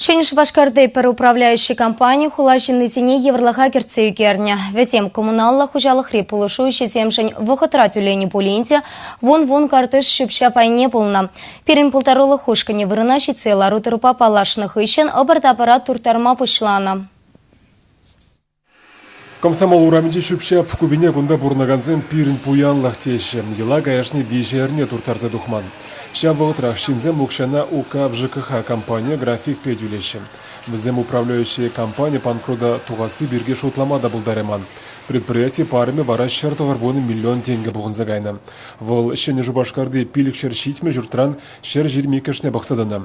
Ҫӗнӗ Шупашкарти пӗр управляющий компани хула ҫыннисене йывӑрлӑха кӗртсе ӳкернӗ. Вӗсем коммуналлӑ хуҫалӑхри пулӑшу ӗҫӗсемшӗн вӑхӑтра тӳленӗ пулин те вун-вун картиш ҫӳпҫа пайне пулнӑ. Пирӗн пултарулӑх ушкӑнӗ вырӑна ҫитсе лару-тӑрупа паллашнӑ хыҫҫӑн ӑпӑр-тапӑра турттарма пуҫланӑ. Комсомол урамӗнчи ҫӳпҫеп купине кунта пурӑнакансем пирӗн пуянлӑх теҫҫӗ. Йӑла каяшне виҫӗ эрне турттарса тухман. Ҫав вӑхӑтрах ҫынсем укҫана УК ВЖКХ компанийӗ графикпе тӳлеҫҫӗ. Вӗсем управляющие компани панкрута тухасси пирки шутлама та пултарайман. Предприяти парӑмӗ вара ҫӗр тӑхӑрвунӑ миллион тенкӗ пухӑнса кайнӑ. Вӑл Ҫӗнӗ Шупашкарти пилӗкҫӗр ҫитмӗл ҫуртран ҫӗр ҫырмиккӗшне пӑхса тӑнӑ.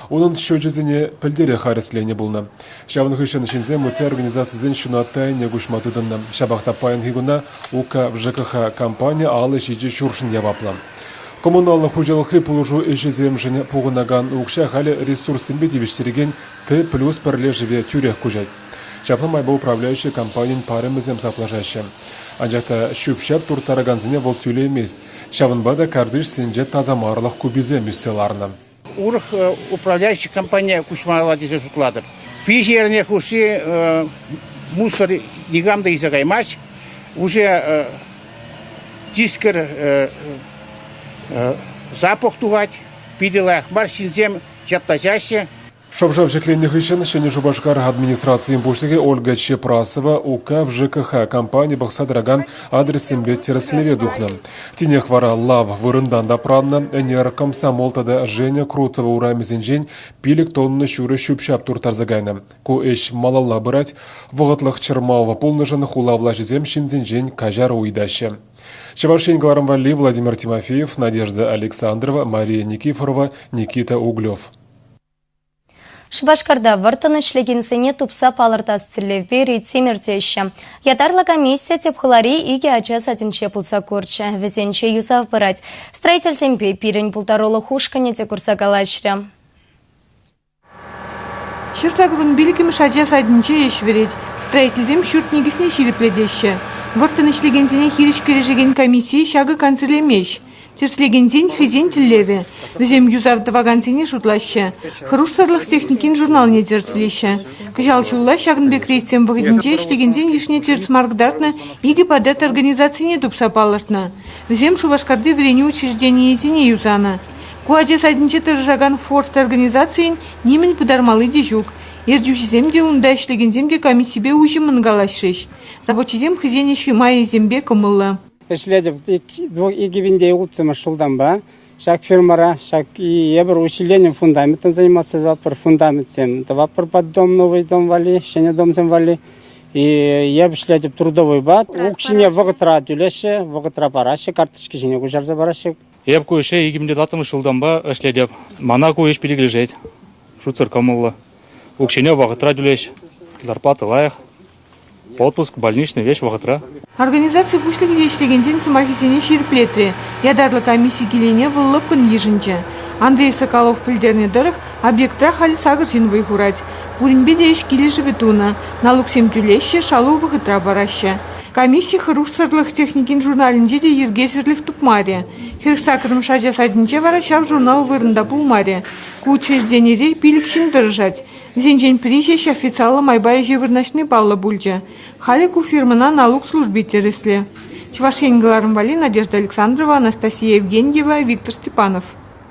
Унӑн счечӗсене пӗлтерех арестленӗ пулнӑ. Ҫавӑн хыҫҫӑн ҫынсем ытти организацисен ҫунаtta ӗне куҫма тытӑннӑ. Ҫапах та паянхи куна УК-ВЖКХ компани алӑ ҫичӗ ҫуршӑн яваплӑ. Коммуналлӑ хуҫалӑхри пулӑшу ӗҫӗсемшӗн пухӑнакан укҫа халӗ ресурссемпе тивӗҫтерекен Т-плюс пӗрлешӗве тӳрех куҫать. Ҫапла майпа управляющи компанин парӑмӗсем саплашаҫҫӗ. Анчах та ҫӳп-ҫап турттаракансене вӑл тӳлеймест. Ҫавӑнпа та картишсенче тасамарлӑх куписем ӳссе ларнӑ. урӑх управляющий компание куҫмалла тесе шутлатӑп. Виҫӗ эрне хушши мусор никам та илсе каймасть. Уже тискер запах тухать. Питӗ лайӑх мар ҫынсем ҫапла чаҫҫӗ. Шӑв-шав ҫӗкленнӗ хыҫҫӑн Ҫӗнӗ Шупашкар администрацийӗн пуҫлӑхӗ Ольга Чепрасова УК ЖКХ компани пӑхса тӑракан адрессемпе тӗрӗслеве тухнӑ. Тинех вара лав вырӑнтан тапраннӑ, ӗнер Комсомол тата Женя Крутова урамӗсенчен пилӗк тонна ҫурӑ ҫӳп-ҫап турттарса кайнӑ. Ку ӗҫ малалла пырать, вӑхӑтлӑх чӑрмав пулнӑшӑн хула влаҫӗсем ҫынсенчен каҫар ыйтаҫҫӗ. Чӑваш Ен кӑларӑм валли Владимир Тимофеев, Надежда Александрова, Мария Никифорова, Никита Углев. Шупашкарта вӑрттӑн ӗҫлекенсене тупса палӑртас тӗллевпе рейдсем иртеҫҫӗ. Ятарлӑ комиссия тӗп хулари икӗ ача садӗнче пулса курчӗ. Вӗсенче юсав пырать. Строительсемпе пирӗн пултарулӑх ушкӑнӗ те курса калаҫрӗ. Ҫуртакурӑн пилӗкмӗш ача садӗнче ӗҫ вӗрет. Строительсем ҫурт никӗсне ҫирӗплетеҫҫӗ. Вӑрттӑн ӗҫлекенсене хирӗҫ кӗрешекен комисси ҫакӑ кансӗрлемест. Тӗрӗслекенсен хӑйсен тӗллевӗ. Вӗсем юсав тӑвакансене шутлаҫҫӗ, хӑрушсӑрлӑх техникин журналне тӗрӗслеҫҫӗ. Кӑҫал ҫулла ҫакӑн пек рейдсем вӑхӑтӗнче ӗҫлекенсен йышне тӗрӗс мар кӑтартнӑ икӗ подъезд организацине тупса палӑртнӑ. Вӗсем Шупашкарти вӗренӳ учрежденийӗсене юсанӑ. Ку ача садӗнче тӑрӑшакан Форст организацийӗн нимӗн пытармалли те ҫук. Ертӳҫӗсем те унта ӗҫлекенсем те комиссипе уҫӑмӑн калаҫрӗҫ. Рабочисем хӑйсен ӗҫ майӗсемпе кӑмӑллӑ. Ӗҫлетӗп икӗ винте улттӑмӗш ҫултанпа. Ҫак фирмӑра ҫак эпир учрежденин фундаmentне заниматься тӑватпӑр, фундаментсем тӑватпӑр под дом, новый дом валли, ҫӗнӗ домсем валли. Эп ӗҫлетӗп трудовуйпа. Укҫине вӑхӑтра тӳлеҫҫӗ, вӑхӑтра параҫҫӗ, карточки ҫине куҫарса параҫҫӗ. Эп ку ӗҫе икӗмӗтваттӑмӗш ҫултанпа ӗҫлетӗп. Мана ку ӗҫ перекӗлешет. Шутсӑр кӑмӑллӑ. Укҫине вӑхӑтра тӳлеҫ, зарплата лайӑх. Отпуск больничный веҫ вӑхӑтра? Организаци пуҫлӑхӗ ӗҫлекенсен сӑмахӗсене ҫирӗплетрӗ. Ятарлӑ комисси килӗне вӑл лӑпкӑн йышӑнчӗ. Андрей Соколов пӗлтернӗ тӑрӑх, объектра халь сакӑр ҫын вӑй хурать. Пуринпе те ӗҫ килӗшӗвӗ тунӑ, налуксем тӳлеҫҫӗ, шалу вӑхӑтра параҫҫӗ. Комисси хӑрушсӑрлӑх техникин журналӗнче те йӗркесӗрлӗх тупмарӗ. Хӗр сакӑрмӗш ача садӗнче вара ҫав журнал вырӑнта пулмарӗ. Ку учрежденире пилӗк ҫын тӑрӑшать. Вӗсенчен пӗри ҫеҫ официаллӑ майпа ӗҫе вырнаҫни паллӑ пулчӗ. Халӗ ку фирмӑна налук служби тӗрӗсле. Чӑваш Ен кӑларӑм валли Надежда Александрова, Анастасия Евгеньева, Виктор Степанов.